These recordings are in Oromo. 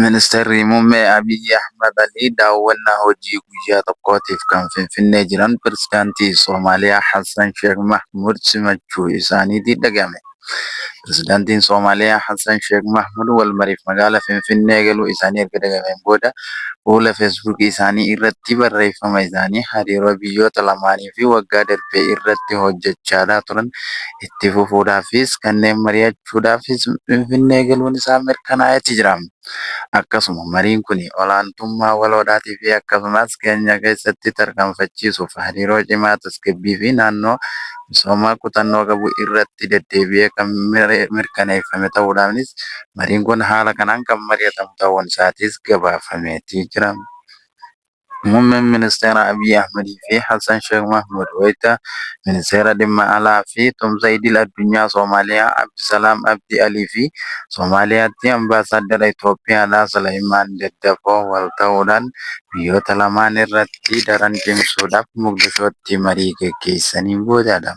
Ministirri Muummee Abiyyi Ahmad Alii daawwannaa hojii guyyaa tokkootiif kan Finfinnee jiran Pireezidaantii Somaaliyaa Hassan Sheek Mahmuud simachuu isaaniitii dhaga'ame. Pireezidaantiin Somaaliyaa Hassan Sheek Mahmuud walmariif magaalaa Finfinnee galuu isaanii erga dhaga'ameen booda fuula Facebook isaanii irratti barreeffama isaanii hariiroo biyyoota lamaanii fi waggaa darbe irratti hojjechaadhaa turan itti fufuudhaafis kanneen mari'achuu gochuudhaafis Finfinnee galuun isaa mirkanaa'eeti jira. Akkasuma mariin kuni olaantummaa waloodhaatiifi akkasumas keenya keessatti tarkaanfachiisuuf hariiroo cimaa tasgabbiifi naannoo misoomaa kutannoo qabu irratti deddeebi'ee kan mirkaneeffame ta'uudhaanis mariin kun haala kanaan kan mari'atamu ta'uun isaatis gabaafameeti jira. Muummeen Ministeeraa Abiy Ahmad fi Hassan Sheikh Mohamud wayita Ministeera Dhimma Alaa fi Tumsa Idil Addunyaa Somaaliyaa Abdisalaam Abdi Alii fi Somaaliyaatti Ambaasaaddara Itoophiyaadhaa Suleeymaan Daddafoo wal ta'uudhaan biyyoota lamaan irratti daran cimsuudhaaf Moqdishootti marii gaggeessaniin booda dha.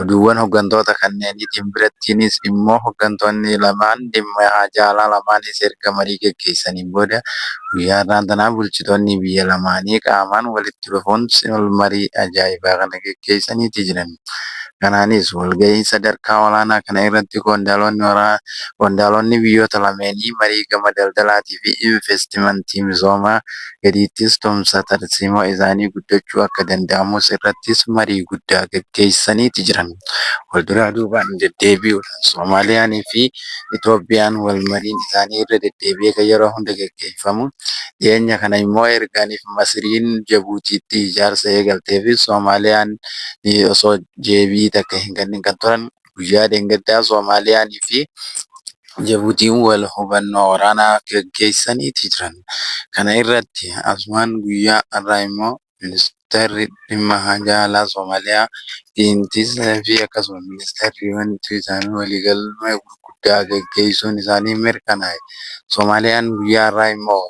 Oduuwwan hoggantoota kanneeniitiin birattiinis immoo hoggantoonni lamaan dhimma haajaa alaa lamaanis erga marii geggeessaniin booda guyyaa har'aan tanaa bulchitoonni biyya lamaanii qaamaan walitti dhufuun marii ajaa'ibaa kana geggeessaniiti jiran. Kanaanis walgahii sadarkaa olaanaa kana irratti qondaalonni biyyoota lameenii marii gama daldalaatii fi inveestimantii misoomaa gadiittis tumsa tarsiimoo isaanii guddachuu akka danda'amus irrattis marii guddaa gaggeessaniiti jiran. Wal duraa duubaan deddeebi'uudhaan Somaaliyaanii fi Itoophiyaan wal mariin isaanii irra deddeebi'ee kan yeroo hunda gaggeeffamu. Dhiyeenya kana immoo erganiif Masiriin Jabuutiitti ijaarsa eegalteefi Soomaaliyaan osoo deebii takka hin kennin kan turan. guyyaa dheengaddaa Somaaliyaanii fi Jabuutiin wal hubannoo waraanaa gaggeessaniiti jiran. Kana irratti asumaan guyyaa har'aa immoo Ministeerri Dhimma Haajaa Alaa Somaaliyaa Diintiisa fi akkasuma Ministeerri Wanituu isaanii waliigalma gurguddaa gaggeessuun isaanii mirkanaa'e. Somaaliyaan guyyaa har'aa immoo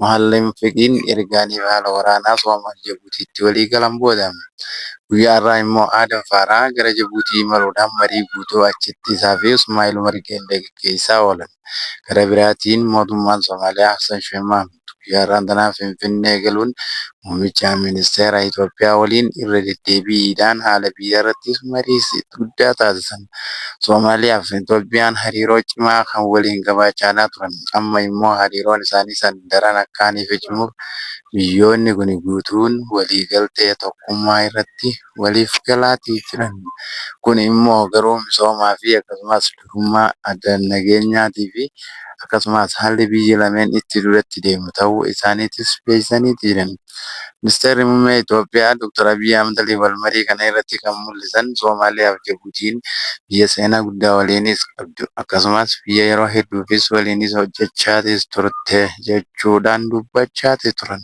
Mohaallem Feqiin erga imala waraanaa Soomaal Jabuutiitti walii galan booda guyyaa har'aa immoo Aadam Faaraah gara Jabuutii imaluudhaan marii guutuu achitti isaa fi Usmaa'il Umar Geellee gaggeessaa oolan. Gara biraatiin mootummaan Soomaaliyaa Hassan Sheeh Mahmuud guyyaa har'aan tanaa Finfinnee galuun muummicha ministeera Itoophiyaa waliin irra deddeebiidhaan haala biyyaarrattis marii guddaa taasisan. Somaaliyaa fi Itoophiyaan hariiroo cimaa kan waliin qabaachaanaa turan amma immoo hariiroon isaanii san daran akkaan ife cimuuf biyyoonni kuni guutuun waliigaltee tokkummaa irratti waliif galaatii jiran. Kun immoo garuu misoomaa fi akkasumaas durummaa adda nageenyaatii fi akkasumaas haalli biyyi lameen itti duratti deemu tahuu isaaniitis beeysaniiti jiran. Ministeerri Muummee Itoophiyaa Dr. Abiy Ahmedllee wal marii kana irratti kan mul'isan Somaaliyaa fi Jabuutiin biyya seenaa guddaa waliinis qabdu akkasumas biyya yeroo hedduufis waliinis hojjechaatis turte jechuudhaan dubbachaatis turan.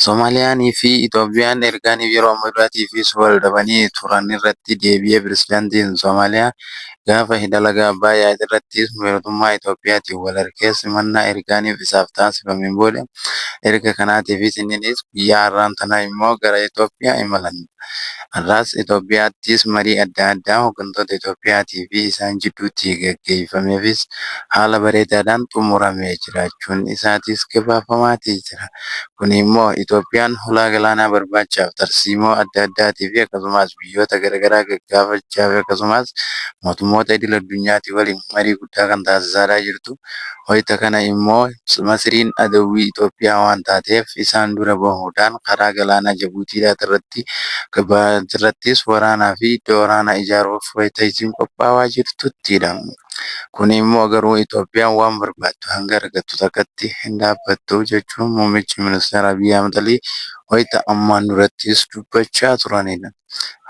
Somaaliyaan fi Itoophiyaan ergaaniif yeroo ammaa duraatiifis wal dhabanii turan irratti deebi'ee Pirezidaantiin Somaaliyaa Gaafa hidha laga Abbaayyaa irrattis mootummaa Itoophiyaatiin wal argee simannaa ergaaniif isaaf taasifameen booda erga kanaatiifis inni dhiis guyyaa har'aan tana immoo gara Itoophiyaa imalan. Har'aas Itoophiyaattis marii adda addaa hoggantoota Itoophiyaatii fi isaan jidduutti gaggeeffameefis haala bareedaadhaan xumuramee jiraachuun isaatis gabaafamaatii jira. Kuni immoo Itoophiyaan hulaa galaanaa barbaachaaf tarsiimoo adda addaatiifi akkasumaas biyyoota. biyyoota garagaraa gaggaafachaa fi akkasumaas mootummoota idil addunyaatii waliin marii guddaa kan taasisaadhaa jirtu. Wayita kana immoo Masiriin adawwii Itoophiyaa waan taateef isaan dura bahuudhaan karaa galaanaa Jabuutiidhaat irratti irrattis waraanaa fi iddoo waraanaa ijaaruuf wayita isiin qophaawaa jirtuttidha. Kun immoo garuu Itoophiyaan waan barbaaddu hanga argattu takkatti hin dhaabbattu jechuun muummichi ministeera Abiy Ahmad Alii wayita ammaan durattis dubbachaa turanidha.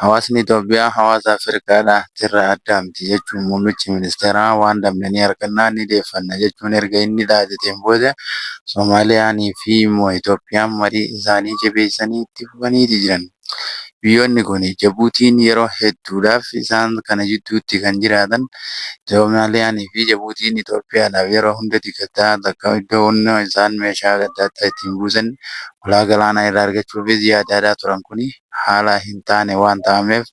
Hawaasni Itoophiyaa hawaasa Afrikaadhaa tirra addaa miti jechuun muummichi ministeeraa waan dhabne ni arganna, ni deeffanna jechuun erga inni dhaateteen booda Somaaliyaanii fi immoo Itoophiyaan marii isaanii jabeessanii itti fufaniiti jiran. Biyyoonni kun Jabuutiin yeroo hedduudhaaf isaan kana jidduutti kan jiraatan Somaaliyaanii fi Jabuutiin Itoophiyaadhaaf yeroo hunda dikataa takka iddoon isaan meeshaa adda addaa ittiin buusan Ulaa galaanaa irraa argachuufis yaadaadaa turan kuni haala hin taane waan ta'ameef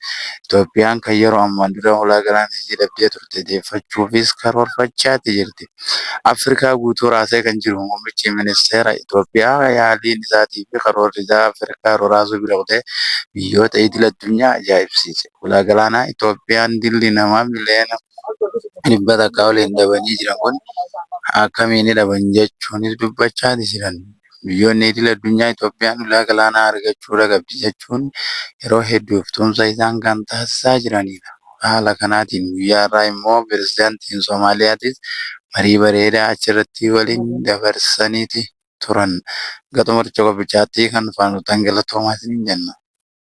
Itoophiyaan kan yeroo ammaan dura ulaa galaanaa isii dhabdee turte deeffachuufis karoorfachaati jirti. Afrikaa guutuu raasee kan jiru muummichi ministeera Itoophiyaa yaaliin isaatii fi karoorri isaa Afrikaa roraasuu bira kutee biyyoota idil addunyaa ajaa'ibsiise. Ulaa galaanaa Itoophiyaan dilli namaa miliyoona 100 takkaa oliin dhabanii jiran kuni akkamiini dhaban jechuunis dubbachaati jiran. Biyyoonni idil addunyaa Itoophiyaan ulaa galaanaa argachuurra qabdi jechuun yeroo hedduuf tumsa isaan kan taasisaa jiranidha. Haala kanaatiin guyyaa har'aa immoo Pirezidaantiin Soomaaliyaatis marii bareedaa achirratti waliin dabarsaniiti turan. Hanga xumura coccoqopichaatti kan nu faana turtan galatoomaa isiniin jenna.